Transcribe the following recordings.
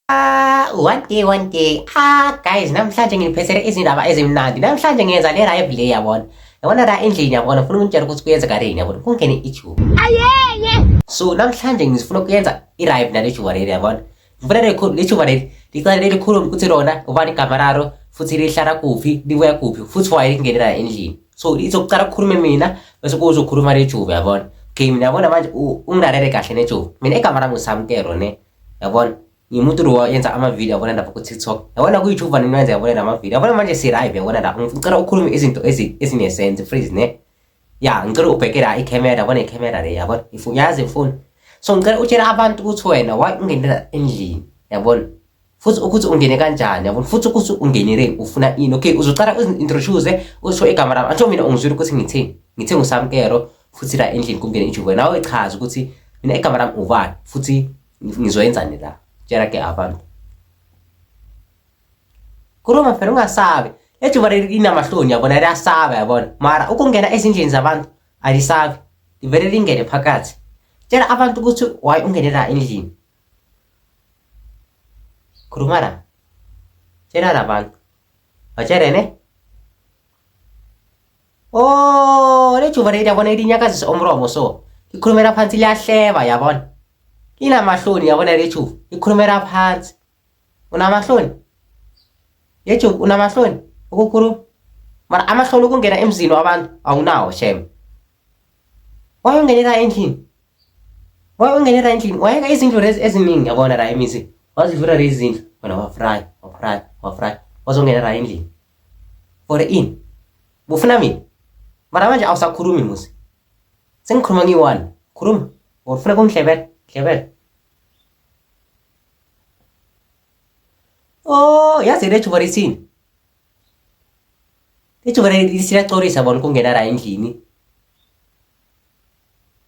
Ah, one day one day ah guys namhlanje nginiphethele izindaba ezimnandi namhlanje ngiyenza le live le yabona yabona la endlini yabona ngifuna ukunitshela ukuthi kuyenzeka leni yabona kungene ijuba ayeye so namhlanje ngifuna ukuyenza i-live nale juba leli yabona mvura rekhulu lichuva leli licala lelikhulu ukuthi lona uba ligama lalo futhi lihlala kuphi libuya kuphi futhi waye lingenela endlini so izokucala kukhulume mina bese kuzokhuluma lejuva yabona okay mina yabona manje ungilalele kahle nejuva mina igama lami usamkelo ne yabona ngimuntu lo yenza amavidiyo yabona lapha ku-tiktok yabona kuyijuva nini wenza yabona lamavidiyo yabona manje si-live yabona lapha ngicela ukhulume izinto ezinesense freeze ne ya ngicela ubheke la ikhamera yabona ikhamera le yabona if uyazi mfuni so ngicela utshele abantu ukuthi wena why ungenela endlini yabona futhi ukuthi ungene kanjani yabona futhi ukuthi ungenele ufuna ini okay uzocala uzi-introduce usho igama lami angisho mina ungizwile ukuthi ngithini ngithe ngusamkero futhi la endlini kungene ijuve nawe chaza ukuthi mina igama lami ubani futhi ngizoyenzani la tshela ke abantu khuluma phela ungasabi ejuba leli linamahloni yabona liyasaba yabona mara ukungena ezindlini zabantu alisabi livele lingene phakathi tshela abantu ukuthi why ungene la endlini khuluma la tshela la bantu batshele ne o oh, lejuba leli yabona linyakazisa umromo so likhulumela phansi liyahleba yabona linamahloni yabona lejuba likhulumela phansi unamahloni yejo unamahloni ukukhuluma mara amahloni ukungena emzini wabantu awunawo shem wayongenela endlini wayongenela endlini wayeka izindlu lezi eziningi yabona la imizi wazivula lezi zindlu wena wafry wafry wafry wazongenela endlini for in bufuna mina mara manje awusakhulumi musi sengikhuluma ngiyi-one khuluma or ufuna kungihlebela hlebela Oh, yazi le juba lithini? Ijuba lisiyacorisa bona kungena la endlini.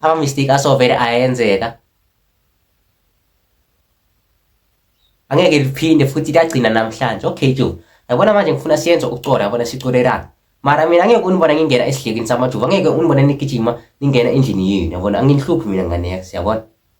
Ama mistake asovele ayenzeka. Angeke liphinde futhi liyagcina namhlanje. Okay, Joe. Yabona manje ngifuna siyenze ukucora yabona sicorelana. Mara mina angeke unibona ngingena esidlekini samajuba. Angeke unibona nigijima ningena endlini yenu. Yabona anginihluphi mina ngane yakhe, siyabona?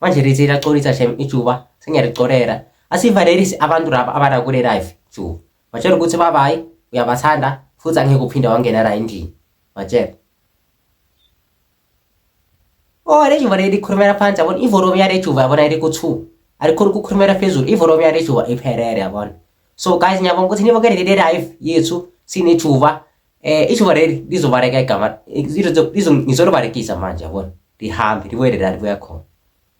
manje rithi lacolisa shem ijuba sengiyalicorera asivalerisi abantu raba abana kule life juba batshela ukuthi babayi uyabathanda futhi angeke uphinde wangena la endlini batshela oh le juba leli khulumela phansi yabona ivolomu yale juba yabona yeli ku-two alikhona ukukhulumela phezulu ivolomu yale juba iphelele yabona so guys ngiyabonga ukuthi nibukele leli life yethu sinejuba eh izoba leli lizobaleka igama ngizolibalekisa manje yabona lihambe libuyele la libuya khona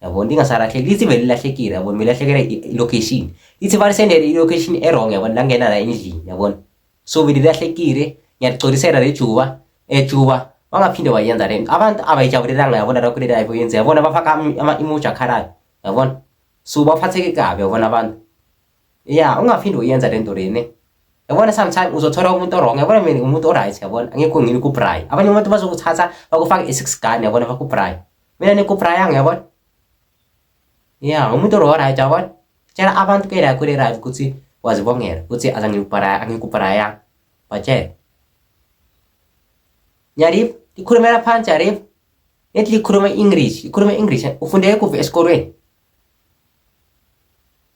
yabona lingasalahle lithi vele lilahlekile yabona melahlekela i-location lithi balisendele i-location erong yabona langena la endlini yabona so vele lilahlekile ngiyaligcolisela lejuba ejuba eh, wangaphinde wayenza le abantu abayijabulelanga yabona lokho le live oyenza yabona bafaka ama-emoji akhalayo yabona so baphatheke kabi yabona abantu ya ungaphinde uyenza le nto lene yabona sometime uzothola umuntu orong yabona mina umuntu oright yabona angekho ngini kubry abanye abantu bazokuthatha bakufake i-six gun yabona bakubry mina nikubrayanga yabona ya umuntu oright yabona tshela abantu ke la kule right ukuthi wazibongela ukuthi azangikubraya angikubrayanga batshela yarip likhulumela phansi yarip nethi likhuluma i-english likhuluma i-english ufundeke kuphi esikolweni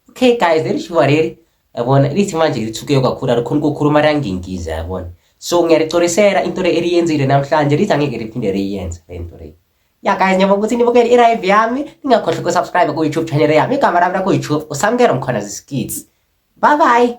okay guys leli shuba leli yabona lithi manje lithuke kakhulu alikhona ukukhuluma langingiza yabona so ngiyalicolisela into le eliyenzile namhlanje lithi angeke liphinde liyenze le nto le ya guys ngiyabonga ukuthi nibukele i-live yami ningakhohlwa ukusubscribe ku-youtube channel yami igama lami laku-youtube usamkelo mkhona ziskids bye bye